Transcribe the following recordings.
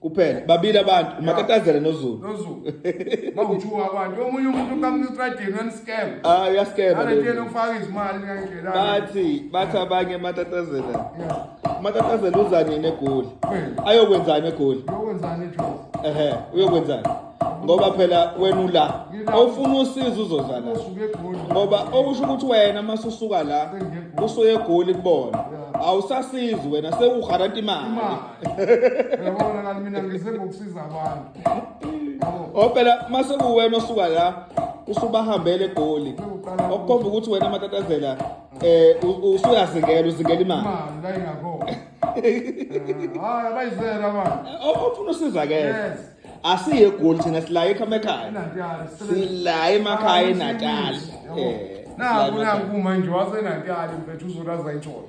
kuphela babili abantu umakatazela nozulu nozulu bawuthuka abantu omunye umuntu ukamnutradini wenscam ah uyascam alethena ukufaka izimali ngandlela bathi bathi abanye matatazela matatazela uza nini egoli ayokwenzani egoli uyokwenzani ejozi ehe uyokwenzani ngoba phela wena ula awufuna usizo uzoza la ngoba okusho ukuthi wena masusuka la usuye egoli kubona awusasizi wena sewugaranta imali yabona kanti mina ngise ngokusiza abantu yabo Oh phela mase kuwena osuka la usubahambele egoli. Sekuqala- Okukhomba ukuthi wena matatazela eh u- u- usuyazingela uzingela imali. imali la ingakhona Eh, hayi abayizela manje O- Ofuna usizakele. yes Asiye egoli thina silaye ekhama ekhaya. enantiyali Silaye emakhaya eNatal. Eh. naku naku manje wasenantiyali mfethu uzolaza itshoyo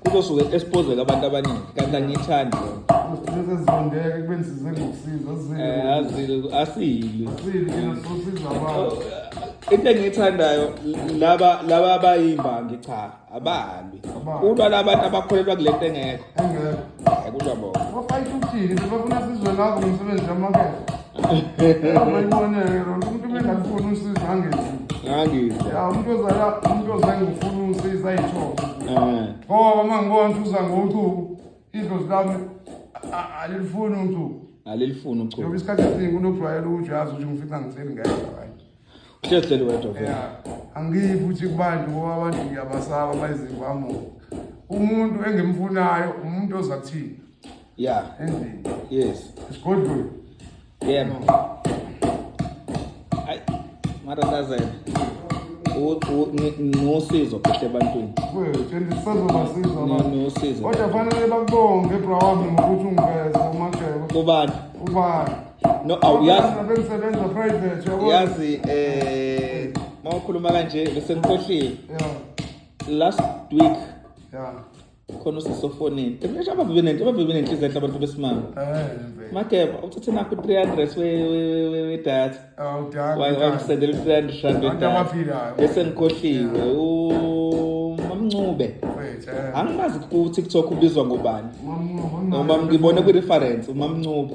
kuzosuke exposeke abantu abaningi kanti angiyithandi sezizondeke kube nisize ngokusiza eh, asile oh, into engiyithandayo laba laba abayimbangi cha abahambi kulwa labantu abakholelwa kule nto engekho engekho kulwa bona bafayitha ukuthini bebafuna sizwe ngako ngomsebenzi kamakethe abayiboneke lona umuntu uma engafuni usizo angenzi ngangizwa ya umuntu ozala umuntu ozange ufuna usizo ayithole eh ngoba uma ngibona ukuthi uza ngochuku idlozi lami a- a- alilifuni uchuku alilifuni uchuku njengoba isikhathi esiningi kunokujwayela ukuthi uyazi ukuthi ngifica ngitheli ngeke right Uhlezi hleli wedwa vele. Yeah. Angiyi futhi kubantu ngoba abantu ngiyabasaba bayizimvamo. Umuntu engimfunayo umuntu oza kuthini? Yeah. Endlini. Yes. Esigodlweni. Yebo. Ay, mara tazela. nosizo phethe ebantwini nosizo kodwa fanele bakubonge bra wami ngokuthi ungiveze umageba ubani ubani No, awuyazi. Bengisebenza private yabo. Yazi eh mawukhuluma kanje bese ngikhohlile. Yeah. Last week. Yeah. khona usisofonini emnje abavebe nento abavebe nenhliziyo enhle abantu besimame eh, mageba uthathe nakho 300 we we we data awudanga wakusendela 300 rand data bese ngikhohliwe umamncube eh. angimazi ku TikTok ubizwa ngobani uma ngibone kwi reference umamncube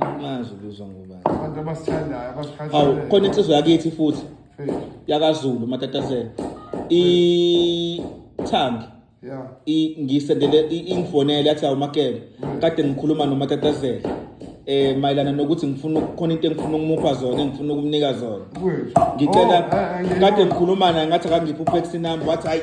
Angazi ubizwa ngubani. Abantu abasithandayo abasithandayo. Awu khona insizwa yakithi futhi yakaZulu matatazela. I Thangi. Yeah. I ngisendele ingifonele yathi awumakele. Kade ngikhuluma nomatatazela. eh mayelana nokuthi ngifuna khona into engifuna ukumupha zona engifuna ukumnika zona ngicela oh, eh, eh, kade ngikhuluma naye ngathi akangiphi upex number wathi hayi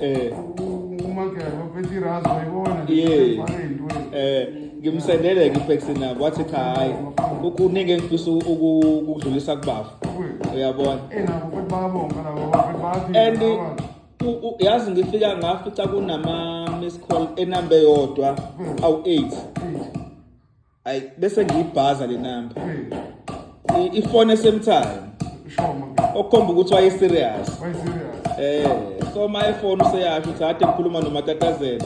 eh umagero phethi razo yibona yes eh ngimsendele ke iface na wathi cha hayi kuningi engifisa ukudlulisa kubafu uyabona eh nabo futhi babonga nabo futhi bathi and yazi ngifika ngafica kunama miss call enambe yodwa awu 8 ayi bese ngiyibhaza le namba I- ifone esemthayo ishoma ke okukhomba ukuthi wayeserious wayiserious Eh, so my phone useyasho ukuthi hade ngikhuluma nomatatazela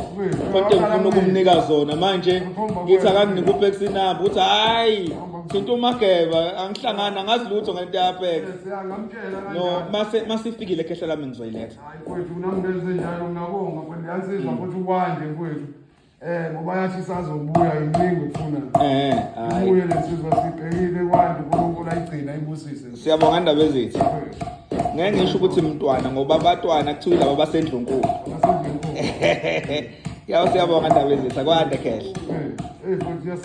kodwa ngifuna ukumnika zona manje ngithi akanginike upex inamba ukuthi hayi thinta umageba angihlangani angazi lutho ngento yapex siyangamtshela no kanjani mase masifikile khehla lami ngizoyiletha hayi kwethu kunamntu enzenjalo ngiyabonga kwethu yansizwa futhi ukwande kwethu Eh ngoba yathi isazobuya iningi ukufuna. Eh hayi. Ubuye lesizwe sibhekile kwandi uNkulunkulu ayigcina ibusise. Siyabonga indaba ezithi. Ngeke ngisho ukuthi mntwana ngoba abatwana kuthiwa laba basendlunkulu. Basendlunkulu. Yawu siyabonga indaba ezithi kwande khehle. Eh, eh futhi